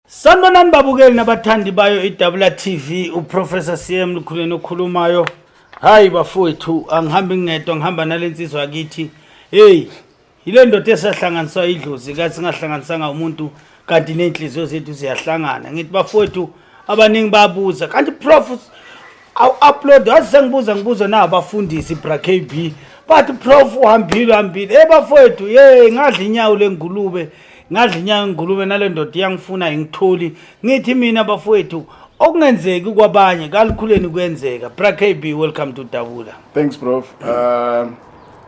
Sanibonani babukeli nabathandi bayo iDabula TV uProfessor CM Lukhuleni okhulumayo. Hayi bafowethu angihambi ngedwa ngihamba nalensizwa yakithi. Hey, yile ndoda esahlanganiswa idlozi kathi singahlanganisanga umuntu kanti nenhliziyo zethu ziyahlangana. Ngithi bafowethu abaningi babuza kanti prof awu upload wazi sengibuza ngibuzo na abafundisi bra KB bathi prof uhambile uhambile hey bafowethu ye ngadla inyawo lengulube ngadla inyawo lengulube nale ndoda iyangifuna ingitholi ngithi mina bafowethu okungenzeki kwabanye kalukhuleni kuyenzeka bra KB welcome to Dabula thanks prof um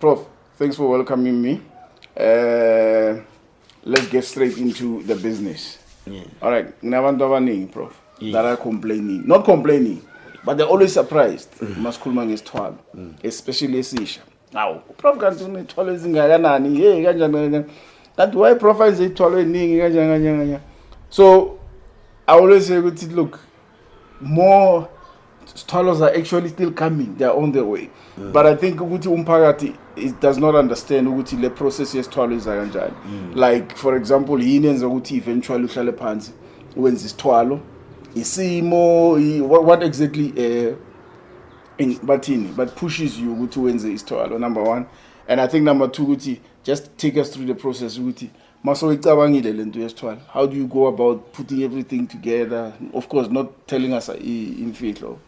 Prof, thanks for welcoming me. Uh, let's get straight into the business. Yeah. All right, nginabantu abaningi prof yes. that are complaining. Not complaining, but they're always surprised. Mm. Masikhuluma ngesithwalo, mm. especially esisha. Awu, prof kanti unethwalo ezingakanani? Hey, kanjani kanjani. Kanti why prof izithwalo eziningi kanjani kanjani kanjani. So I always say ukuthi look, more sithwalo are actually still coming they are on their way mm. but i think ukuthi umphakathi it does not understand ukuthi le process yesithwalo iza kanjani mm. like for example yini yenza ukuthi eventually uhlale phansi wenza isithwalo isimo what, what exactly uh, in, bathini but pushes you ukuthi wenze isithwalo number one and i think number two ukuthi just take us through the process ukuthi Maso icabangile lento yesithwala. How do you go about putting everything together? Of course not telling us uh, imfihlo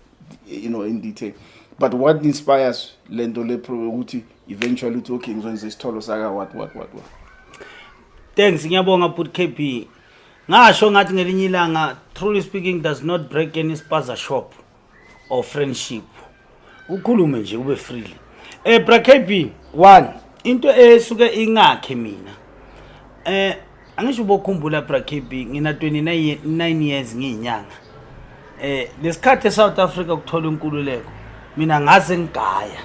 you know in detail. But what inspires lento le ukuthi eventually uthi okay ngizokwenza isitholo saka what what what what. Thanks ngiyabonga but KB. Ngasho ngathi ngelinye ilanga truly speaking does not break any spaza shop. or friendship ukhulume nje ube freely eh bra KB one into esuke ingakhe mina eh angisho ubokhumbula bra KB ngina 29 years ngiyinyanga eh lesikhathi eSouth Africa ukuthola inkululeko mina ngaze ngigaya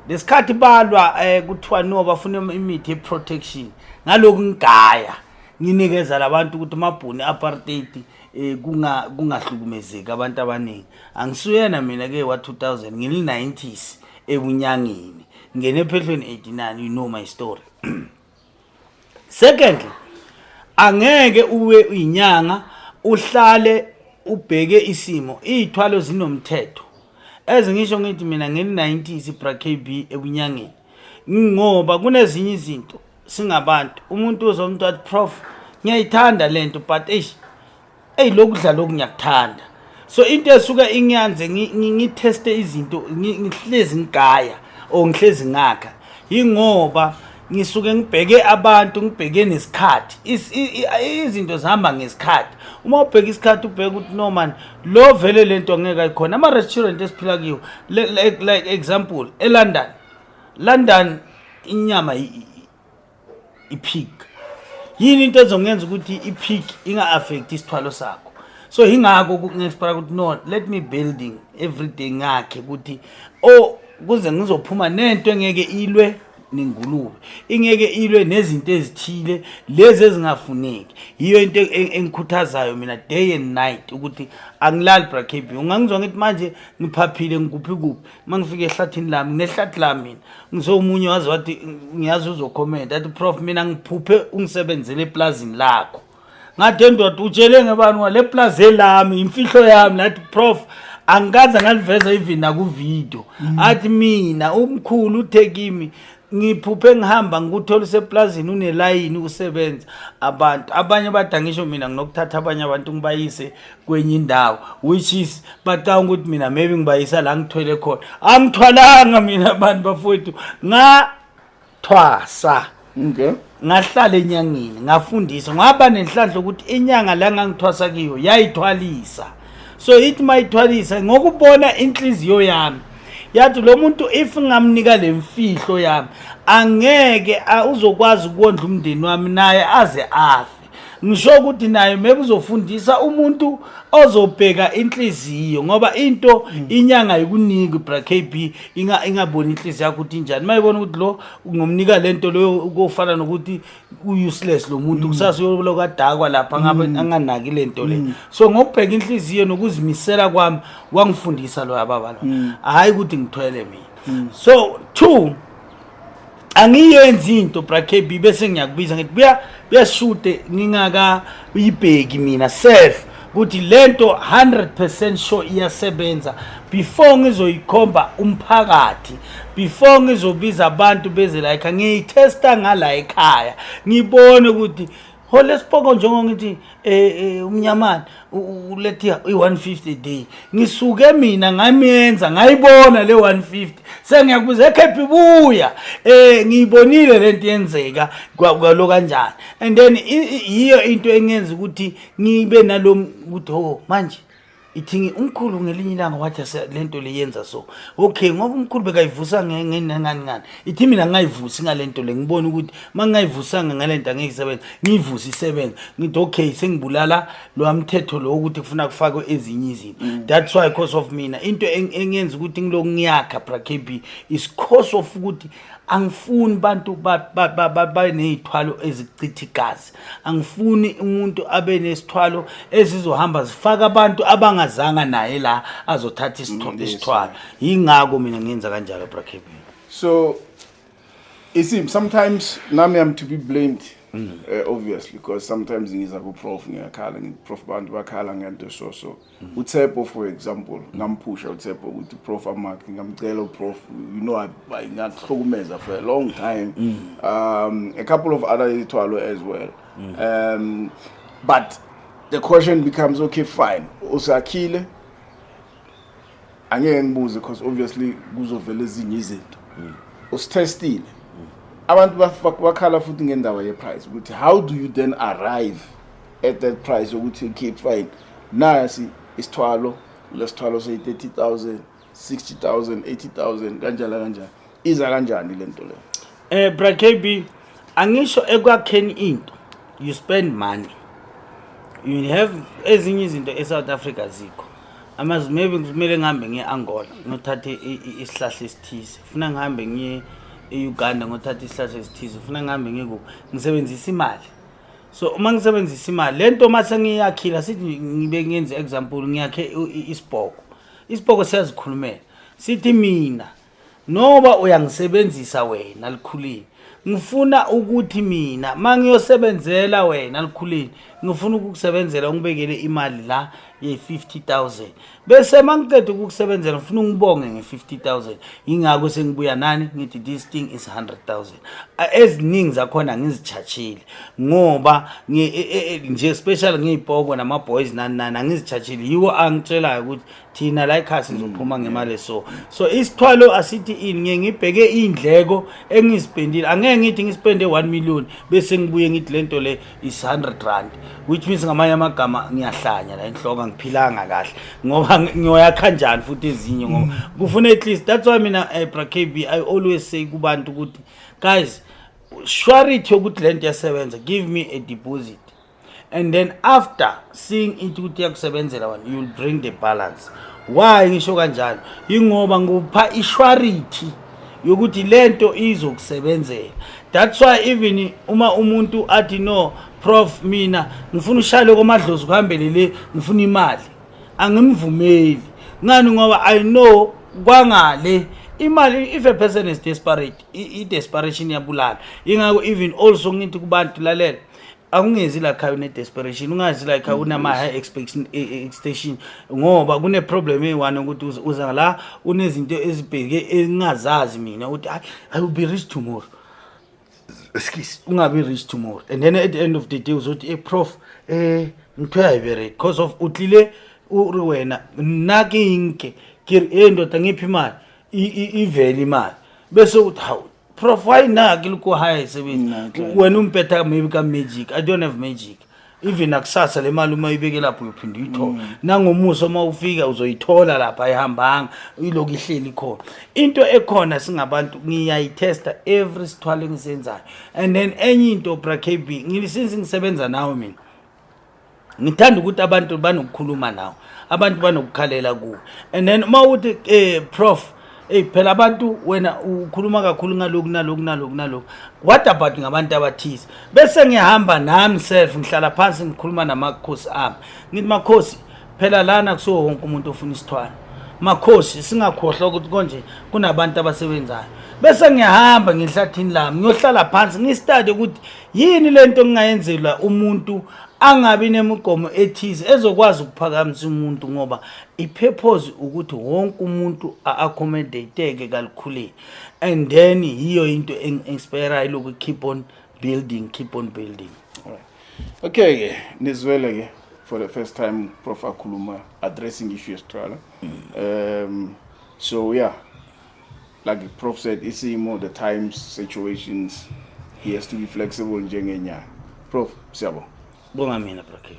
lesikhathi balwa eh kuthiwa no bafuna imithi yeprotection ngaloku ngigaya nginikeza labantu ukuthi mabhuni apartheid eh kunga kungahlukumezeki abantu abaningi angisuyena mina ke wa 2000 ngili 90s ebunyangeni ngene phehlweni 89 you know my story secondly angeke uwe inyanga uhlale ubheke isimo izithwalo zinomthetho ezingisho ngithi mina ngeli 90s iBrakb ebunyangeni ngoba kunezinye izinto singabantu umuntu uze umuntu athi prof ngiyayithanda le nto but eish eyi lokhu dla lokhu ngiyakuthanda so into esuke ingiyanze ngitheste izinto ngihlezi ngigaya or ngihlezi ngakha yingoba ngisuke ngibheke abantu ngibheke nesikhathi izinto zihamba ngesikhathi uma ubheka isikhathi ubheka ukuthi no man lo vele lento angeke ayikhona ama restaurant esiphila kiwo like, like example eLondon London inyama ipig yini into ezongenza ukuthi ipig inga affect isithwalo sakho so ingakho kunexpire ukuthi no let me building everyday ngakhe ukuthi oh kuze ngizophuma nento engeke ilwe nengulube ingeke ilwe nezinto ezithile lezi ezingafuneki yiyo into e-, e-, engikhuthazayo mina day and night ukuthi angilali brakb ungangizwa ngithi manje ngiphaphile ngikuphi kuphi uma ngifike ehlathini lami nginehlathi la mina ngisomunye wazi wathi ngiyazi uzokhomenta athi prof mina ngiphuphe ungisebenzele eplazini lakho ngathi endoda utshele ngebani wa le plus elami imfihlo yami nathi prof angikaze ngaliveza even nakuvideo mm. athi mina umkhulu uthe kimi ngiphuphe ngihamba ngikuthola useplazini unelayini ukusebenza abantu abanye bada ngisho mina nginokuthatha abanye abantu ngibayise kwenye indawo which is bacanga ukuthi mina maybe ngibayisa la ngithwele khona angithwalanga mina abantu bafowethu nga thwasa okay ngahlala enyangeni ngafundisa ngaba nenhlanhla ukuthi inyanga la ngangithwasa kiyo yayithwalisa so ithi mayithwalisa ngokubona inhliziyo yami yathi lo muntu if ngamnika le mfihlo yami angeke uzokwazi ukondla umndeni wami naye aze afe ngisho ukuthi naye maybe uzofundisa umuntu ozobheka inhliziyo ngoba into hmm. inyanga ikuniki bra KB inga ingaboni inhliziyo yakho ukuthi injani mayibona ukuthi lo ungomnika lento leyo ukufana nokuthi u useless lo muntu hmm. kusasa uyoloku adakwa lapha ngabe hmm. anganaki lento le so ngokubheka inhliziyo nokuzimisela kwami wangifundisa lo ababa lo hayi ukuthi ngithwele mina so two angiyenzi into brakb bese ngiyakubiza ngithi buya buyashude ngingaka uyibheki mina self ukuthi lento 100% sure iyasebenza before ngizoyikhomba umphakathi before ngizobiza abantu beze la ekhaya ngiyithesta ngala ekhaya ngibone ukuthi ho lesipoko njengo ngithi eh, eh umnyamana ulethi i150 day ngisuke mina ngamiyenza ngayibona le 150 sengiyakubuza ekhephi buya eh ngiyibonile lento yenzeka kwalo kanjani and then yiyo into engenza ukuthi ngibe nalom ukuthi ho manje ithingi umkhulu ngelinye ilanga wathi le nto le yenza so okay ngoba umkhulu bekayivusa ngani ngani ithi mina ngingayivusi ngale nto le ngibone ukuthi uma ngingayivusanga ngale nto angeke isebenza ngiyivuse isebenza ngithi okay sengibulala lowa mthetho lo ukuthi kufuna kufakwe ezinye izinto mm. that's why cause of mina into engenza ukuthi ngilokhu ngiyakha brakb is cause of ukuthi angifuni abantu babe ney'thwalo ezichitha igazi angifuni umuntu abe nesithwalo ezizohamba zifaka abantu abangazanga naye la azothatha isitho- Mm, yes. isithwalo yingako mina ngenza kanjalo brakebin so you see sometimes nami am to be blamed uh, obviously because sometimes ngiza ku-prof ngiyakhala ngi-prof abantu bakhala ngento so so uTsepo for example ngamphusha uTsepo ukuthi prof amak ngamcela uprof you know ngahlukumeza for a long time mm. um a couple of other izithwalo as well mm. um but the question becomes okay fine usakhile angeke ngibuze because obviously kuzovela ezinye izinto mm. usithestile abantu bakhala futhi ngendaba yeprice ukuthi how do you then arrive at that price ukuthi keep fine nasi isithwalo lesithwalo say 30000 60000 80000 kanjalo kanjalo iza kanjani lento le eh bra KB angisho ekwakheni into you spend money you have ezinye izinto eSouth Africa zikho amazi maybe kumele ngihambe ngiye Angola ngothatha isihlahla esithize ufuna ngihambe ngiye eUganda ngothatha isihlahla esithize ufuna ngihambe ngikuphi ngisebenzisa imali so uma ngisebenzisa imali le nto uma sengiyakhila sithi ngibe ngenze example ngiyakhe isibhoko isibhoko siyazikhulumela sithi mina noba uyangisebenzisa wena likhulile ngifuna ukuthi mina uma ngiyosebenzela wena likhulile ngifuna ukukusebenzela ungibekele imali la ye-50 000 bese mangiqeda ukukusebenzela ngifuna ungibonge nge-50000 yingakho sengibuya nani ngithi this thing is 100000 eziningi zakhona ngizitshashile ngoba e, e, e, nje special ngiyipoko nama-boys nani nani angizitshashile yiwo angitshelayo ukuthi thina la ekhaya sizophuma ngemali so so isithwalo asithi ini ngiye ngibheke iy'ndleko engizipendile angeke ngithi ngisipende 1 million bese ngibuye ngithi le nto le is 100 rand which means ngamanye amagama ngiyahlanya la enhloko angiphilanga kahle ngoba ngiyoyakha njani futhi ezinye ngoba mm. kufuna at least that's why mina eh, bra KB I always say kubantu ukuthi guys surety yokuthi lento yasebenza give me a deposit and then after seeing into ukuthi yakusebenzela wena you'll bring the balance why ngisho kanjalo ingoba ngikupha ishwarity yokuthi lento izokusebenzela that's why even uma umuntu athi no prof mina ngifuna ushayele komadlozi kuhambele le ngifuna imali angimvumeli ngani ngoba i know kwangale imali if a person is desperate i-desperation iyabulala ingako even also ngithi kubantu lalela akungenzi la khaya une-desperation ungazi la khaya unama-high expectation e- e- expectation ngoba kune-problem eyi-one ukuthi uza- uza la unezinto ezibheke engingazazi mina ukuthi "Ay, i will be rich tomorrow Excuse. ungabi rich tomorrow and then at the end of the day uzothi e prof eh ngithiwa ayibereki because of utlile uri wena nakinke kiri e ndoda ngiphi imali I- i- ivele imali bese uthi hawu prof why na ke le ko hae sebetsa Nna, Clive. wena umpetha maybe ka magic i don't have magic even nakusasa le mali uma uyibeke lapho uyophinde uyithole Mm. nangomuso uma ufika uzoyithola lapha ayihambanga ilokhu ihleli khona into ekhona singabantu ngiyayithesta every sithwalo engisenzayo and then enye into brakb since ngisebenza nawe mina ngithanda ukuthi abantu banokukhuluma nawo abantu banokukhalela kuwo and then uma uthi um eh, prof eyi phela abantu wena ukhuluma kakhulu ngaloku naloku naloku naloku what about ngabantu abathize bese ngihamba nami self ngihlala phansi ngikhuluma namakhosi ami ngithi makhosi phela lana kusuke wonke umuntu ofuna isithwalo makhosi singakhohlwa ukuthi konje kunabantu abasebenzayo bese ngiyahamba ngehlathini lami ngiyohlala phansi ngistade ukuthi yini lento engingayenzela umuntu angabi nemigomo ethize ezokwazi ukuphakamisa umuntu ngoba ipurpose ukuthi wonke umuntu a-accommodateke kalukhuleni and then yiyo into eng-inspirayo loku keep on building keep on building okay ke nizwele ke for the first time prof akhuluma addressing issue yesithwala um so yeah Like Prof said, isimo, the times, situations, he has to be flexible njengenyanga. Prof, siyabonga. Bonga mina Brakeli.